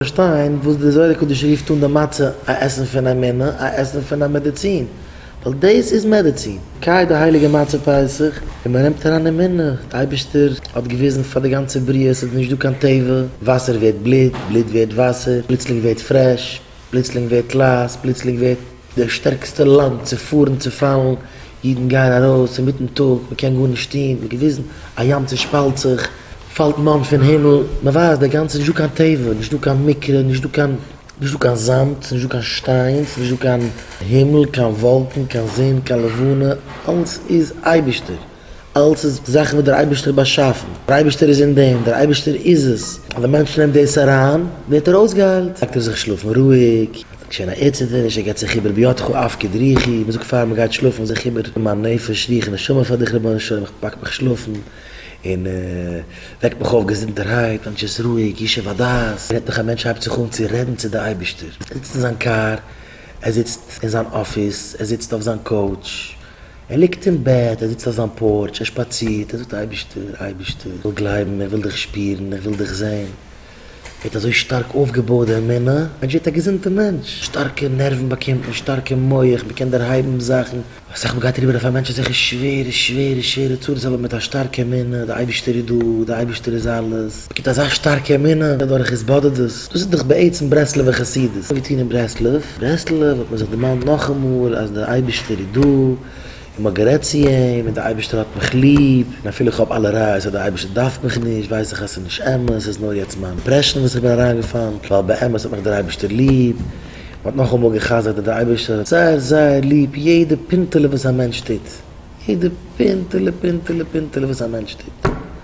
פארשטיין וואס די זוהר הקדוש רופט אן די מצה א עסן פון א מינע, א עסן פון א מעדיצין, ווייל דאס איז מעדיצין. קיי די הייליגע מצה פסח און מען נעמט אריין די מינע, די אייבערשטער האט געוויזן פאר די גאנצע בריאה עס איז נישט דא קיין טבע, וואסער ווערט בלוט, בלוט ווערט וואסער, פלוצלינג ווערט פרעש, פלוצלינג ווערט לייז, פלוצלינג ווערט. די שטערקסטע לאנד צו פארן צו פאלן, אידן גייען ארויס אינמיטן טאג, מען קען גארנישט טון, ווי געוויזן, א ים צושפאלט זיך, פאלט מאן פון הימל, מען ווייסט די גאנצע נישט דא קיין טבע, נישט דא קיין מקרה, נישט דא קיין, נישט דא קיין זאמד, ס'נישט דא קיין שטיין, ס'נישט דא קיין הימל, קיין וואלקן, קיין זון, קיין לבנה, אלס איז אייבערשטער. אלץ איז זאכן וואס דער אייבערשטער באשאפן, דער אייבערשטער איז אין דעם, דער אייבערשטער איז עס, אז דער מענטש נעמט דאס אריין, ווערט ער אויסגעהיילט, לייגט ער זיך שלאפן רואיג, ער האט נישט קיין ערדציטערניש, ער געבט זיך איבער בידך אפקד רוחי, מען זאגט פאר אים גיי שלאפן זיך איבער אין מיין נפש, רוח און נשמה פאר דיך רבונו של עולם, איך פאק מיך שלאפן, און וועק מיך אויף געזונטערהייט, מענטש איז רואיג, ישוב הדעת, רעדט מיך א מענטש הייבט זיך אן צו רעדן צו דער אייבערשטער, ער זיצט אין זיין קאר, ער זיצט אין זיין אפיס, ער זיצט אויף זיין קאוטש, ער ליגט אין בעט, ער זיצט אויף זיין פארטש, ער שפאצירט, ער זאגט, אייבישטער, אייבישטער, איך וויל גלייבן, איך וויל דיך שפירן, איך וויל דיך זען. ער האט אזוי שטארק אויפגעבויעט די אמונה, ער האט ג'ווערט א געזונטע מענטש, שטארקע נערוון באקומט מען, שטארקע מח, מען קען דערהייבן זאכן, אסאך מ'גייט אריבער אויף א מענטש אזעלכע שווערע שווערע שווערע צרות אבער מיט א שטארקע אמונה, די אייבישטער איז דא, די אייבישטער איז אלעס, מ'קומט אזא שטארקע אמונה דורך התבודדות, דאס איז דאך בעצם ברסלב'ע חסידות, אנגעטון אין ברסלב. ברסלב האט מען זיך דערמאנט נאכאמאל אז דער אייבישטער איז דא, און מען האט גערעדט צו אים, און דער אייבישטער האט מיך ליב, און אפילו איך האב אלע ראיות אז דער אייבישטער דארף מיך נישט, ווייס איך אז ס'איז נישט אמת, ס'איז נאר יעצט מיין אימפרעשאן וואס איך בין אריינגעפאלן, ווייל באמת האט מיך דער אייבישטער ליב. מען האט נאכאמאל גע'חזר'ט אז דער אייבישטער האט זייער זייער ליב יעדע פינטעלע וואס א מענטש טוט, יעדע פינטעלע פינטעלע פינטעלע וואס א מענטש טוט.